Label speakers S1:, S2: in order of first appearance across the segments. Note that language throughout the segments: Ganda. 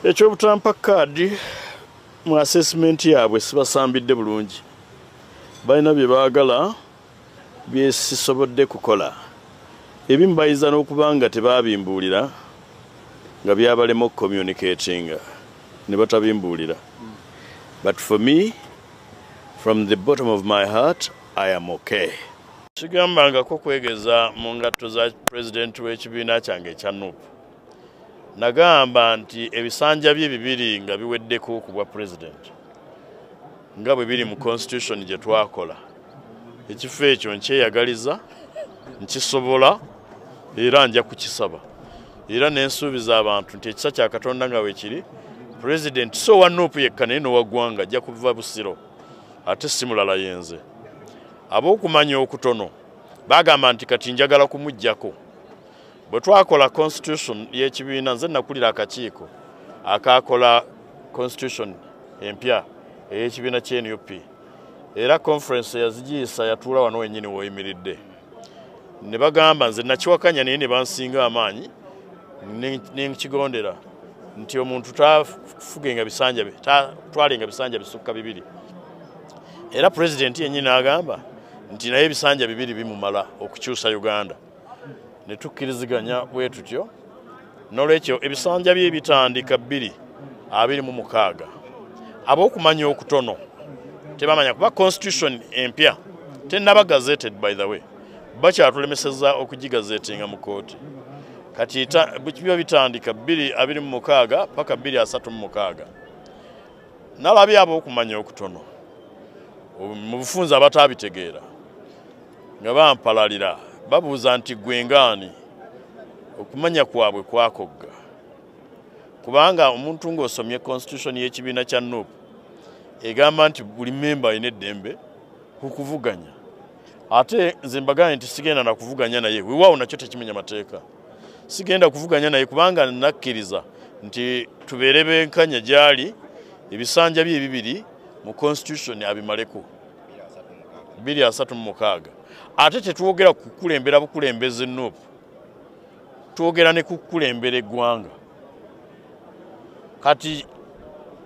S1: ekyobutampa kaadi mu assessment yaabwe sibasambidde bulungi balina bye baagala byesisobodde kukola ebimu bayinza n'okuba nga tebabimbuulira nga byabalema okucommunicatinga ne batabimbuulira but for me from the bottom of my heart i am okay kigambangako kwegeza mu ngatto za pulezidenti w'ekibiina kyange ekya nup nagamba nti ebisanja bye bibiri nga biweddeko ku bwa president nga bwe biri mu constitution gye twakola ekifo ekyo nkyeyagaliza nkisobola era nja kukisaba era nensuubiza abantu nti ekisa kya katonda nga wekiri president so wa nup yekka naye nowaggwanga ajja kuva busiro ate simulala yenze ab'okumanya okutono bagamba nti kati njagala kumugjako bwe twakola constitution y'ekibiina nze nakulira akakiiko akaakola constitution empya ey'ekibiina kya nup era conference yazigiyisa yatuula wano wenyini woyimiridde ne bagamba nze nakiwakanya naye ne bansinga amaanyi nenkigondera nti omuntu tafugenga bisanja bye tatwalenga bisanja bisukka bibiri era pulezidenti yennyini agamba nti naye ebisanja bibiri bimumala okukyusa uganda ne tukkiriziganya bwe tutyo n'olwekyo ebisanja bye bitandika bbiri abiri mu mukaaga ab'okumanya okutono tebamanya kuba constitution empya tenaba gazeted by the way bakyatulemeseza okugigazetinga mu kooti kati biba bitandika bbiri abiri mu mukaaga paka bbiri asatu mu mukaaga nalabye ab'okumanya okutono mu bufunzi abataabitegeera nga bampalalira babuuza nti gwe ngaani okumanya kwabwe kwakogga kubanga omuntu ng'osomye constitution y'ekibiina kya nup egamba nti buli memba alina eddembe ku kuvuganya ate nze mbagaye nti sigenda nakuvuganya naye wewaawo nakyo tekimenya mateeka sigenda kuvuganya naye kubanga nakkiriza nti tubeere benkanya gyali ebisanja bye bibiri mu constitution abimaleko biri asatu mu mukaaga ate tetwogera ku kukulembera bukulembeze nup twogera ne kukulembera eggwanga kati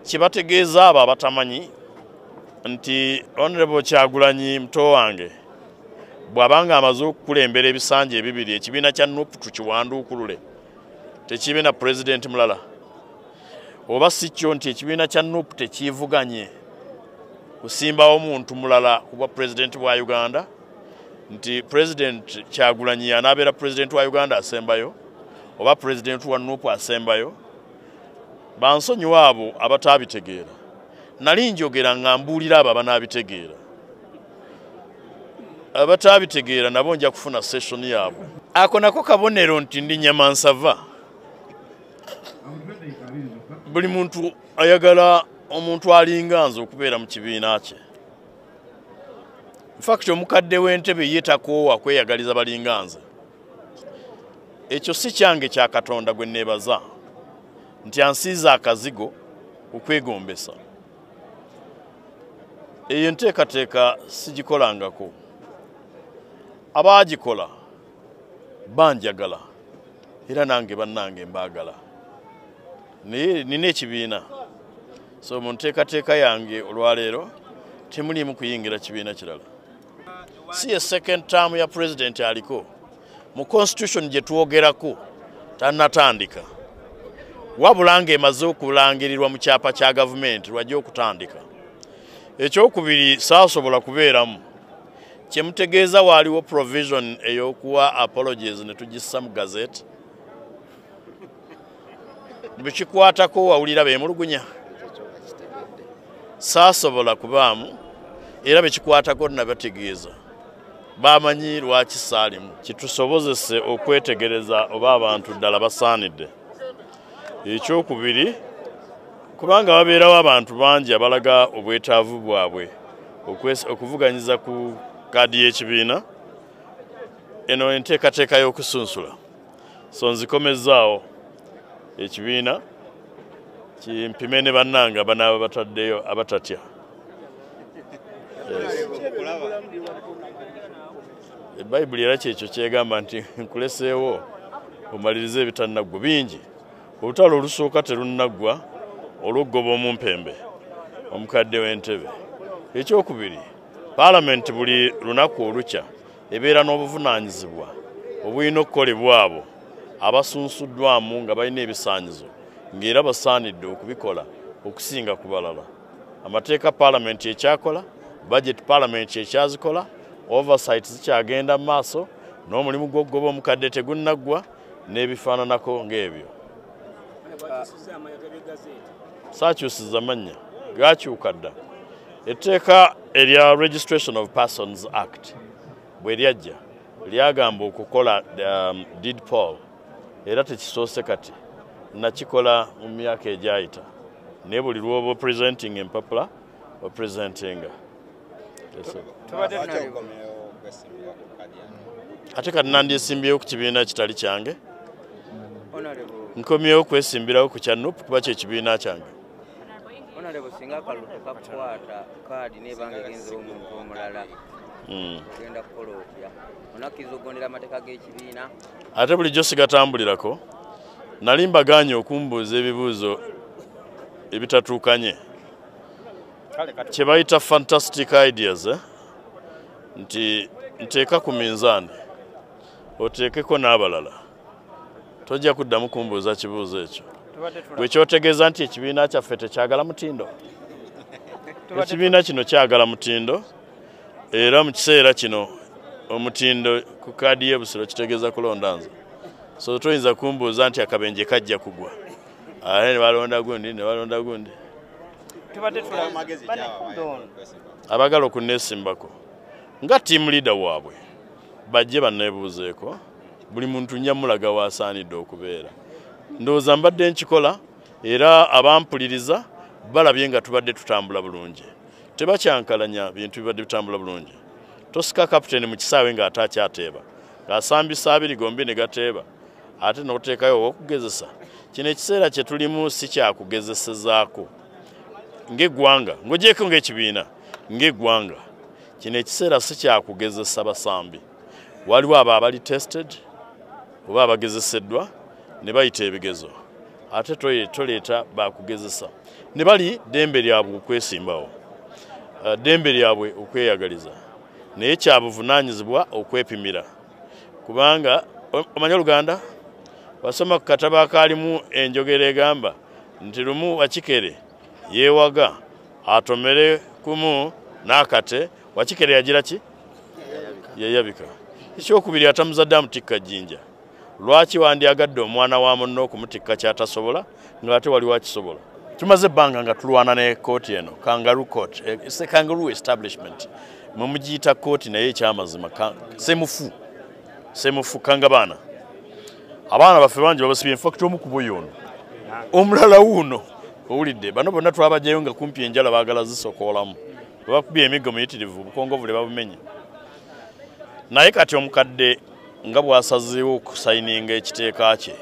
S1: kyebategeeza abo abatamanyi nti honorable kyagulanyi muto wange bwabanga amaze okukulembera ebisanja ebibiri ekibiina kya nup tukiwanduukulule tekibe na pulezidenti mulala oba si kyo nti ekibiina kya nup tekiivuganye kusimbawo muntu mulala kubwa pulezidenti bwa uganda nti pulezidenti kyagulanyi anaabeera pulezidenti wa uganda asembayo oba pulezidenti wa nup asembayo bansonyiwa abo abataabitegeera nali njogera nga mbuulira abo abanaabitegeera abataabitegeera nabo nja kufuna session yaabwe ako nako kabonero nti ndi nyamansava buli muntu ayagala omuntu alinga nze okubeera mu kibiina kye infact omukadde w'entebe ye takoowa kweyagaliza balinga nze ekyo si kyange kya katonda gwe neebaza nti ansiiza akazigo okwegombesa eyo enteekateeka sigikolangako abaagikola banjagala era nange bannange mbaagala naye nina ekibiina so mu nteekateeka yange olwaleero temuliimu kuyingira kibiina kirala si ye second term ya pulezidenti aliko mu constitution gye twogerako tannatandika wabula ng'emaze okulangirirwa mu kyapa kya gavumenti lwajja okutandika ekyokubiri saasobola kubeeramu kyemutegeeza waaliwo provision eyokuwa apologies ne tugissa mu gazeti bwekikwatako wawulira bemulugunya saasobola kubaamu era bwekikwatako nabategeeza bamanyi lwaki saalimu kitusobozese okwetegereza oba abantu ddala basaanidde ekyokubiri kubanga babeerawo abantu bangi abalaga obwetaavu bwabwe okuvuganyiza ku kaadi y'ekibiina eno enteekateeka y'okusunsula so nzikomezzaawo ekibiina kimpime ne bannanga banaaba bataddeyo abatatya bayibuli era kyekyo kyegamba nti nkuleseewo omaliriza ebitannaggwa bingi olutalo olusooka terunnaggwa olw'okugoba omumpembe omukadde w'entebe ekyokubiri paalamenti buli lunaku olukya ebeera n'obuvunaanyizibwa obulina okukolebwa abo abasunsuddwamu nga balina ebisaanyizo ng'era basaanidde okubikola okusinga ku balala amateeka palamenti ekyakola budget palamenti ekyazikola oversight zikyagenda mu maaso n'omulimu gw'okugoba omukadde tegunnaggwa n'ebifaananako ng'ebyo saakyusiza mannya gakyuka dda etteeka erya registration of persons act bwe lyajja lyagamba okukola um, deed poll era tekisoose kati nakikola mu myaka egyayita naye buli lwoba presenting empapula opresentinga ate kati nandyesimbyewo ku kibiina kitali kyange nkomyewo kwesimbirawo ku kya nup kuba kyekibiina kyange
S2: singa akalulu kakukwata kaadi nebanga egenza omuntu omulala hmm. ogenda kukola otya onakkiriza okugondera amateeka g'ekibiina ate bulijjo
S1: sigatambulirako nali mbagaanye okumbuuza ebibuuzo ebitatuukanye kye bayita fantastic ideas eh? nti nteeka ku minzaani oteekeko n'abalala tojja kuddamu kumbuuza kibuuzo ekyo gwe kyotegeeza nti ekibiina kyaffe tekyagala mutindo ekibiina kino kyagala mutindo era mu kiseera kino omutindo ku kaadi y'ebusiro kitegeeza kulonda nze so toyinza kumbuuza nti akabenje kajja kugwa ate ne balonda gundi ne balonda gundi abagala okunesimbako nga tiimu leader waabwe bajje banneebuuzeeko buli muntu nja mulaga waasaanidde okubeera ndowooza mbadde nkikola era abampuliriza balabye nga tubadde tutambula bulungi tebakyankalanya bintu bibadde bitambula bulungi tosika kapiteeni mu kisaawe ng'ate akyateeba ng'asambisa abiri gombi ne gateeba ate n'oteekayo owokugezesa kino ekiseera kye tulimu si kyakugezesezaako ng'eggwanga ng'ogyeko ng'ekibiina ng'eggwanga kino ekiseera si kyakugezesa basambi waliwo abo abali tested oba abagezeseddwa ne bayita ebigezo ate toleeta bakugezesa ne bali ddembe lyabwe okwesimbawo uh, ddembe lyabwe okweyagaliza naye kyabuvunaanyizibwa okwepimira kubanga omanya oluganda wasoma ku katabo akaalimu enjogera egamba nti lumu wakikere yeewaga atomere kumu n'akate wakikere yagira ki yeyabika ekyokubiri atamuzadde amutikka jjinja lwaki wandyagadde omwana wa munne okumutikka kyatasobola ng'ate wali wakisobola tumaze ebbanga nga tulwana ne kooti eno kangaru court eh, se kangaru establishment mwe mugiyita kooti naye ekyamazima semufu semufu kanga baana abaana baffe bangi babasibye infact omu kubo yoono omulala wuuno owulidde bano bonna twabajayo nga kumpi enjala baagala zisokoolamu webakubye emiggo muyitirivu obukongovule babumenye naye kati omukadde nga bwasazeewo okusayininga ekiteeka kye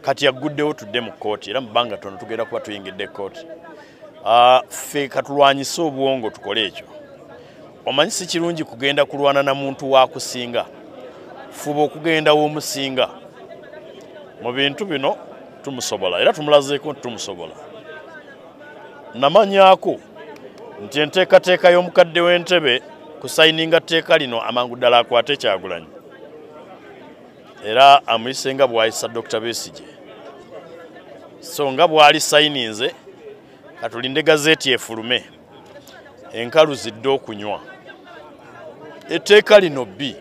S1: kati yagguddewo tudde mu kkooti era mu bbanga tono tugenda kuba tuyingidde ekkooti ah, ffe katulwanyise obwongo tukole ekyo omanyi si kirungi kugenda kulwana na muntu wakusinga fuba okugenda womusinga mu bintu bino tumusobola era tumulazeeko nti tumusobola namanyako nti enteekateeka y'omukadde w'entebe ku sayininga tteeka lino amangu ddala akwate kyagulanyi era amuyise nga bwayisa dr besige so nga bwali sayininze katulinde gazeeti efulume enkalu zidde okunywa etteeka lino bbi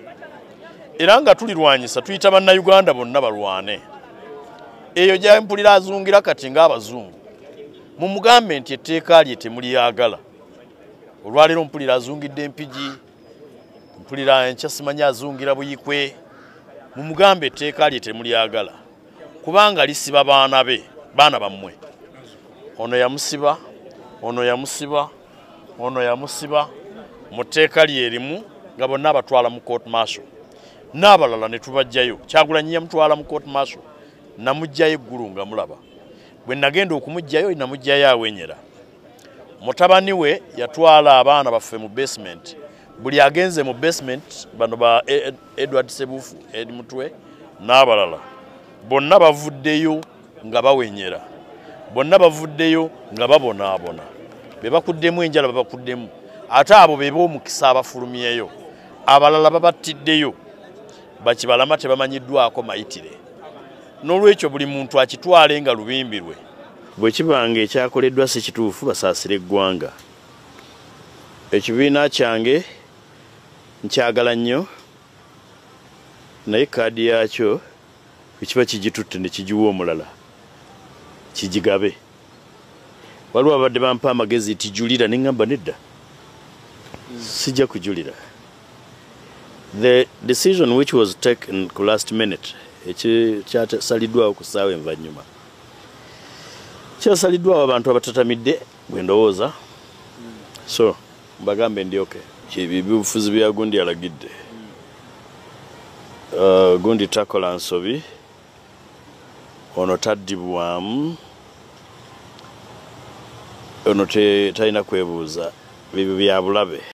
S1: era nga tulirwanyisa tuyita bannayuganda bonna balwane eyo gyempulira azungira kati ng'abazungu mumugambe nti etteeka lye temuliyagala olwaleero mpulira azungidde empigi mpulira enkya simanyi azungira buyikwe mumugambe etteeka lye temulyagala kubanga lisiba baana be baana bammwe ono yamusiba ono yamusiba ono yamusiba mu tteeka lyerimu nga bonna abatwala mu court marshal n'abalala ne tubajjayo kyagulanyi yamutwala mu court marshal namujjayo eggulu nga mulaba bwe nagenda okumuggyayo namuggyayo awenyera mutabani we yatwala abaana baffe mu basement buli agenze mu basement bano ba e, e, edward sebufu ed mutwe n'abalala bonna bavuddeyo nga bawenyera bonna bavuddeyo nga babonaabona be bakuddemu enjala babakuddemu ate abo be b'omukisa abafulumyeyo abalala babattiddeyo bakibalama tebamanyiddwako mayitire n'olwekyo buli muntu akitwale nga lubimbi lwe bwe kiba nga ekyakoleddwa si kituufu basaasire eggwanga ekibiina kyange nkyagala nnyo naye kaadi yaakyo ekiba kigitutte ne kigiwa omulala kigigabe waliwo ababadde bampa amagezi nti julira ne ŋŋamba nedda sijja kujulira the decision which was taken ku last minute ekyasaliddwawo ku ssaawa envannyuma kyasaliddwawo abantu abatatamidde bwe ndowooza so mbagambe ndi oke ebyo ebyobufuzi bya gundi alagidde uh, gundi takola nsobi ono taddibwamu ono talina kwebuuza bibyo byabulabe